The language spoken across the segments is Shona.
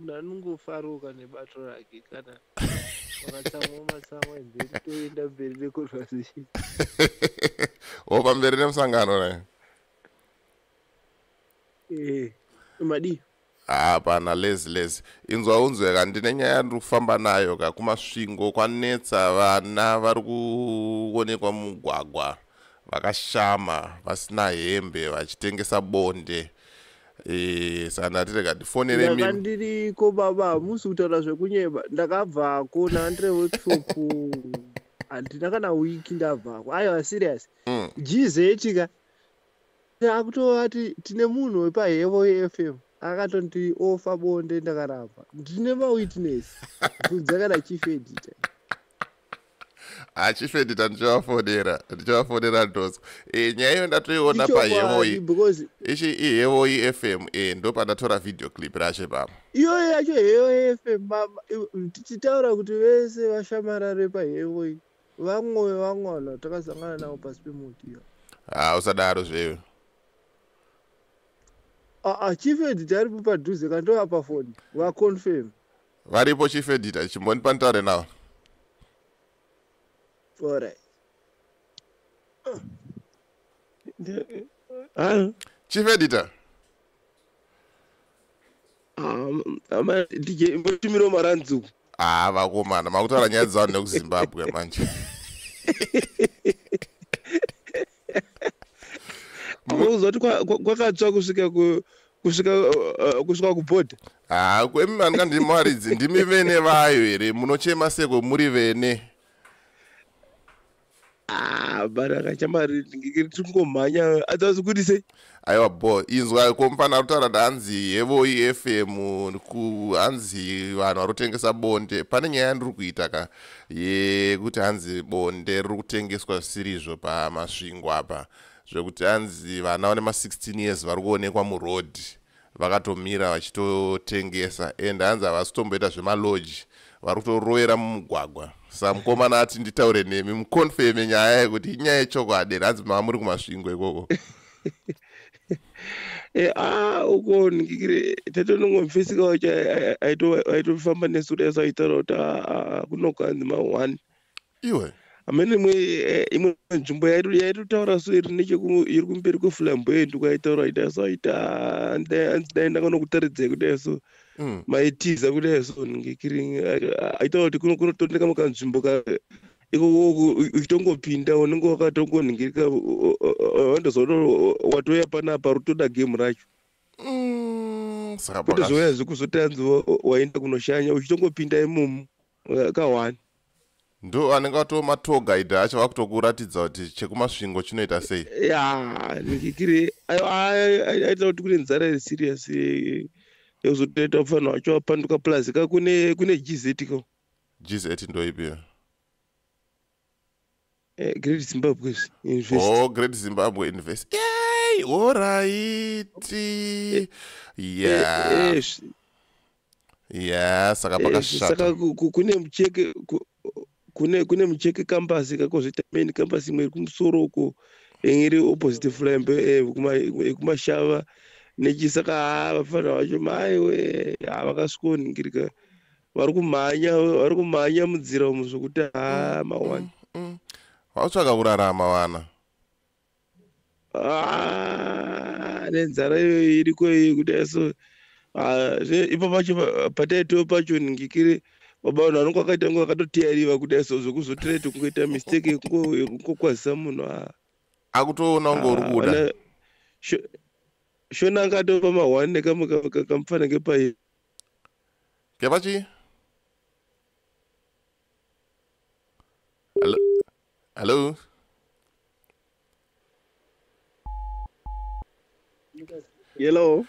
munhu anongofaruka nebato rake kana vakatsamwa matsamwa then toenda mberi neconversation opa mberi nemusangano naye eh, madii hapana lezi lezi inzwa unzwe ka ndine nyaya yandiri kufamba nayo ka kumasvingo kwanetsa vana vari kuonekwa mumugwagwa vakashama vasina hembe vachitengesa bonde Eh, saka ndati rega ndifonere mimi ndakandiriko baba hamusi kutaura zvekunyeba ndakabvako nandire workshop handina kana wiki ndabvako aiwa serious mm. gz chika akutova ti tine munhu wepahevo yefm akatonti ofa bonde ndakaramba ndine mawitness kudzakana chief editor achifedita ndichivafonera ndichivafonera ndos e, nyaya iyo ndatoiona pahevoyi ichi ihevoyi f m e, ndopandatora video clip racho pamo iyoyo yacho hevoyi f m tichitaura kuti vese vashamarare pahevoyi vamwe vangwana takasangana navo pasi pemuti iyo ha usadaro zveyo aa ah, ah, chifedita aripo padhuze kandovapa foni vaconfirm varipo chief editor chimbondipa nditaure navo alright Hello. Chief editor. Um, ama DJ mbotumiro maranzu. Ah, vakomana, makutaura nyaya dzavo nekuZimbabwe manje. Kuuza kuti kwakatsva kusvika ku kusvika uh, kusvika kubhodha haa ah, kwemi vanga ndimwaridzi ndimi vene vayo here munochema seko muri vene ah, baraka chamari tingomhanya adzazi kuti sei aiwa bo inzwa ko mufana arutaura ndaanzi hevo ifm hanzi vanhu vari kutengesa bonde pane nyaya yandiri kuita ka yekuti hanzi bonde riri kutengeswa zvisirizvo pamasvingo apa zvekuti hanzi vana vane ma16 years vari kuonekwa muroad vakatomira vachitotengesa and hanzi havasi kutomboita zvemalodge vari kutorovera mumugwagwa sa mukomana ati nditaure nemi muconfirme nyaya yekuti inyaya yechokwadi here hanzi mava muri kumasvingo ikoko eh, ah, uko ndikikire tatonongomfisika wacho aitofamba nesu kudai saitaura kuti ah, ah, kunokanzi ma-one iwe amene imwe eh, imwe nzvimbo yairi yairi kutaura so iri necheku- iri kumberi kweflamboy ndikwaitaura ita so ita dai ndakanokutaridzai kudai so Mm. maitiza kudai so ngekiri aitaura kuti kuno- kunotondeka mukanzvimbo ka ikoko uchitongopinda unenge wakatongonhingirika wandozoona watouya panapa rutoda game racho Mm, saka pakati- kutozouya zvekuzotanzi waenda kunoshanya uchitongopinda imomo Eh, ka one ndo anenge atoo matour guide acho vakutokuratidza kuti chekumasvingo chinoita sei ya ndikikiri aita kuti kune nzara iri serious yekuzotoita kufanira wacho wapanduka plus ka kune kune gz ko gz ndoipi Eh, great zimbabwe invest oh great zimbabwe invest yay oraiti eh, yeah eh, yeah saka pakashata kune mucheke kune kune mucheke kambasi kakozvita main kambasi imwe iri kumusoro uko iri opposite flambe ekumashava nechisaka vafanira vacho maiwe havakasvikoningirika vari kumhanya vari kumhanya mudzira umu zvekuti haa mm, mawani mm, mm. vautsvaka kurarama vana ah, nenzara iyoyo iriko iyi kudai so ah, ipo pacho pataitoo pacho ningikiri baba vanhu vanonge vakaita ngo vakatotiyariva kudai so zvekuzotirete kungoita mistake yekungokwazisa munhu ah. akutoona unge uri kuda shona angatopa mahwani nekamwe kamufana ngepai Kevachi. Hello. Hello. Hello.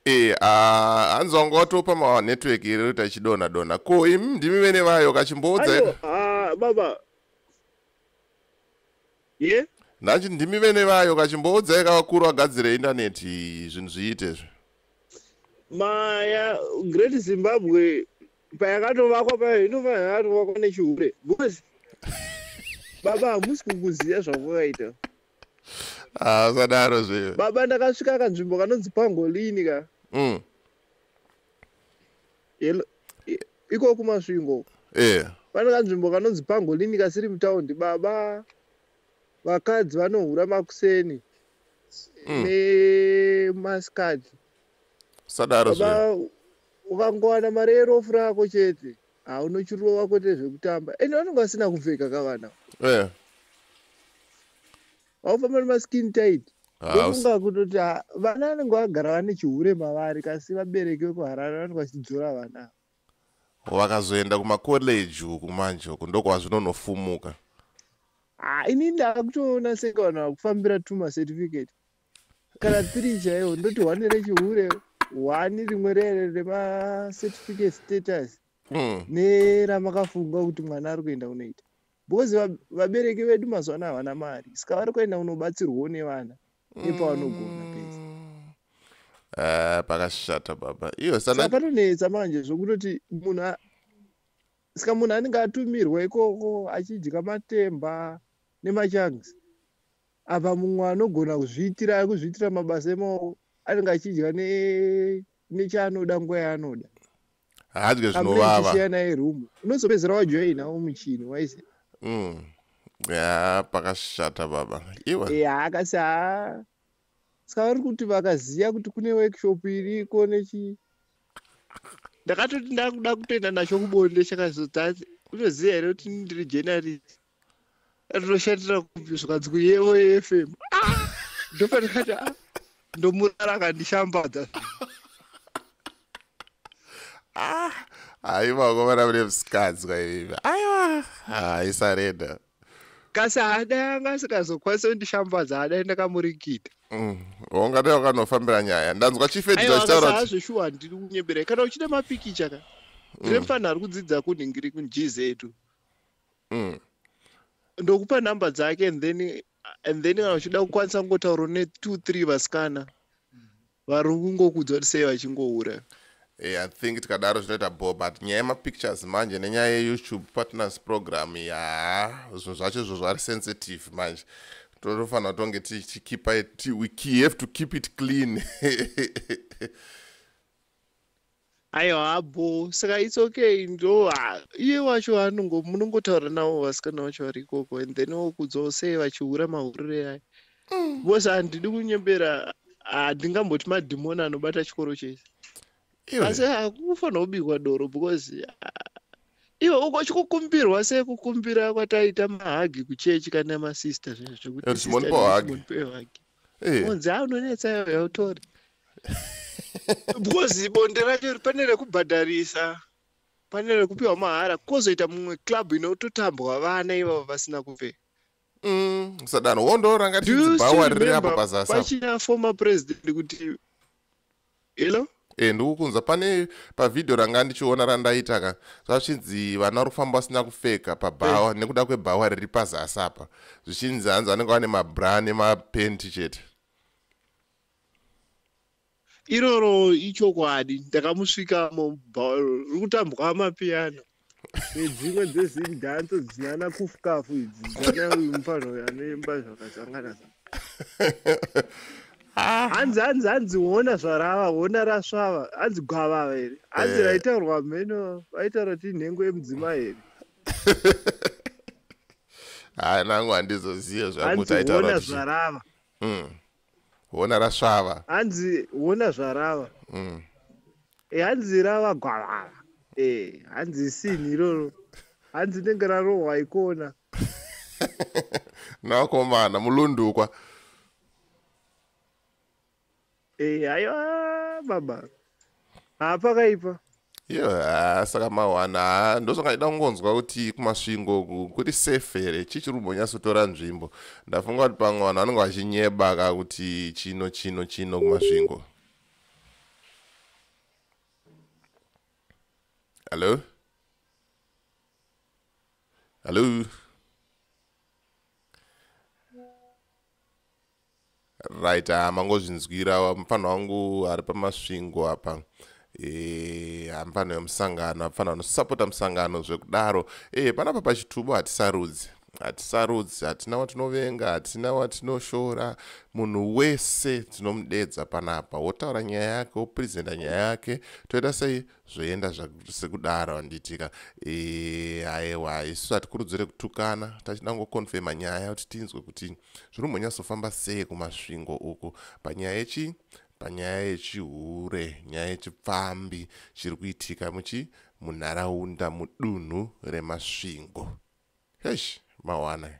Eh, ah, anzi wanga watopa ma network iri kuti achidona dona. Ko imi ndimi vene vayo kachimboudza. Ayo, ah, baba. ye nhanji ndimi vene vayo kachimboudzai kavakuru vagadzire indaneti zvinhu zviite izvi maya great zimbabwe payakatovakwa payo inofanira yakatovakwa nechihure because baba hamusi kukuziva zvakwakaita ah, usadaro zve baba ndakasvika kanzvimbo kanonzi pangolini ka mm. iko kumasvingo eh. pane kanzvimbo kanonzi pangolini kasiri mutaundi baba vakadzi vanohura makuseni mm. nemasikati sadaro baba ukangowana mari yerofu rako chete haunochuriro wako tezvekutamba ende vanonge vasina kupfeka kavana eh. vaufamba nemaskin tight ndofunga kutoti vana vanenge vagara vane chihure mavari kasi vabereki vekuharare vanenge vachidzora vana vakazoenda kumacollege uku manje uku ndokwazvinonofumuka ah, ini ndava kutoona senge vanhu vakufambira tuma certificate kana tiri chaiwo ndoti hwani rechihure hwani rimwe rere remacertificate status mm. neramakafunga kuti mwana ari kuenda kunoita because vabereki vedu mazuva ano havana mari saka vari kuenda kunobatsirwawo nevana nepavanogona mm. pese eh, pakashata baba iyo saka patonetsa manje zvokutoti munhu saka munhu anenge atumirwa ikoko achidya matemba nemachangs apa mumwe anogona kuzviitira kuzviitira mabasa emaoko anenge achidya nechaanoda nguva yaanoda hadye zvinovavachiyanai room unozopedzera wajoina umuchini waise mm. ya pakashata baba iwe ya akasi ha saka vari kuti vakaziva kuti kune workshop iriko nechi ndakatoti ndakuda kutoenda nacho kubonde chakazotati unoziva here kuti ndiri journalist Rinoshatira kupi zvikadzi kuyevo yeFM. Ah! Ndopatikati ah, ndomurara akandishambadza. Ah, aiwa komana mune musikadzi kwaivivi. Aiwa, aisarenda. Kasi haada anga asikazokwanisa kundishambadza haada ndakamurikita. Mm, Wonga dai wakanofambira nyaya. Ndanzwa chief editor Aiwa achitaura akasa kuti hazveshuwa handiri kunyebera. Kana uchida mapikicha ka. Ndine mfanha ari kudzidza kunhingiri kuGZ. mm. ndokupa number dzake and then and then kana uchida kukwanisa kungotaura ne two three vasikana vari kungokudzwa kuti sei vachingoura Hey, eh, i think tikadaro zvinoita bo but nyaya yemapictures manje nenyaya yeyoutube partners program ya zvinhu zvacho izvo zvari sensitive manje totofanira tonge tichikipa we have to keep it clean aiwa bho saka its okay ndo ah, iye wacho anongo munongotaura navo vasikana vacho vari ikoko and then wokudzwawo sei vachihura mahurire aya Mm. bcause handidi kunyembera handingamboti madhimoni anobata chikoro chese Iwe, asi hakufanira kubikwa doro because ah, iwe uko chikukumbirwa sei kukumbira kwataita mahagi kuchechi kana masista zvekuti Eh, sister Simon Paul hug. Simon Paul hug. Eh. Unzi ah unonetsa iwe hautori. Because bonde racho pane rekubhadharisa. Pane rekupiwa mahara kozoita mumwe club inototambwa vana ivavo vasina kupfeka. Mm, sadano wondoranga tidzibhawa riri apo pazasi. Pachina former president kuti hello e ndikukunzwa pane pavhidhiyo ranga ndichiona randaita ka zvachinzi vana vari kufamba vasina kupfeka pabhawa eh. nekuda kwebhawa riri pazasi apa zvichinzi hanzi vanenge vane mabra nemapenti chete iroro ichokwadi ndakamusvika mubhawa riri kutambwa mapiyano dzimwe dzezidhanso dzinana kufukafu idzi dzanamufanha uyo anoimba zvakasangana ah. hanzi hanzi hanzi hona zvarava hona rasvava hanzi gwavava here hanzi eh. raitaurwa mheno vaitaura kuti nhengo yemudzimai here haa nangu handizozive zvangu taitaura zvarava hmm. hona rasvava hanzi hona zvarava mm. e, hanzi rava gwavava e, hanzi sini iroro hanzi nenge rarohwa ikona nakomana mulundukwa e, aiwa baba haa pakaipa iyo haa saka mawana haa ndozvanga ndida kungonzwa kuti kumasvingo kuri safe here chii chiri kumbonyatsotora nzvimbo ndafunga kuti pamwe vanhu vanenge vachinyeba ka kuti chino chino chino kumasvingo hallo hallo right ah, mangozvinzwira mupfanha wangu ari pamasvingo apa eh, hamupfanha e, wemusangano hapfanha vanosapota musangano zvekudaro e, panapa pachitubo hatisarudzi hatisarudzi hatina watinovenga hatina watinoshora munhu wese tinomudedza panapa wotaura nyaya yake woprezenta nyaya yake toita sei zvoenda sekudaro handitika e, aewa isu hatikurudzire kutukana tachida kungokonfema nyaya kuti tinzwe kuti zviri umbonyatsofamba sei kumasvingo uku panyaya yechi panyaya yechihure nyaya yechipfambi chiri kuitika muchi munharaunda mudunhu remasvingo hesh mawana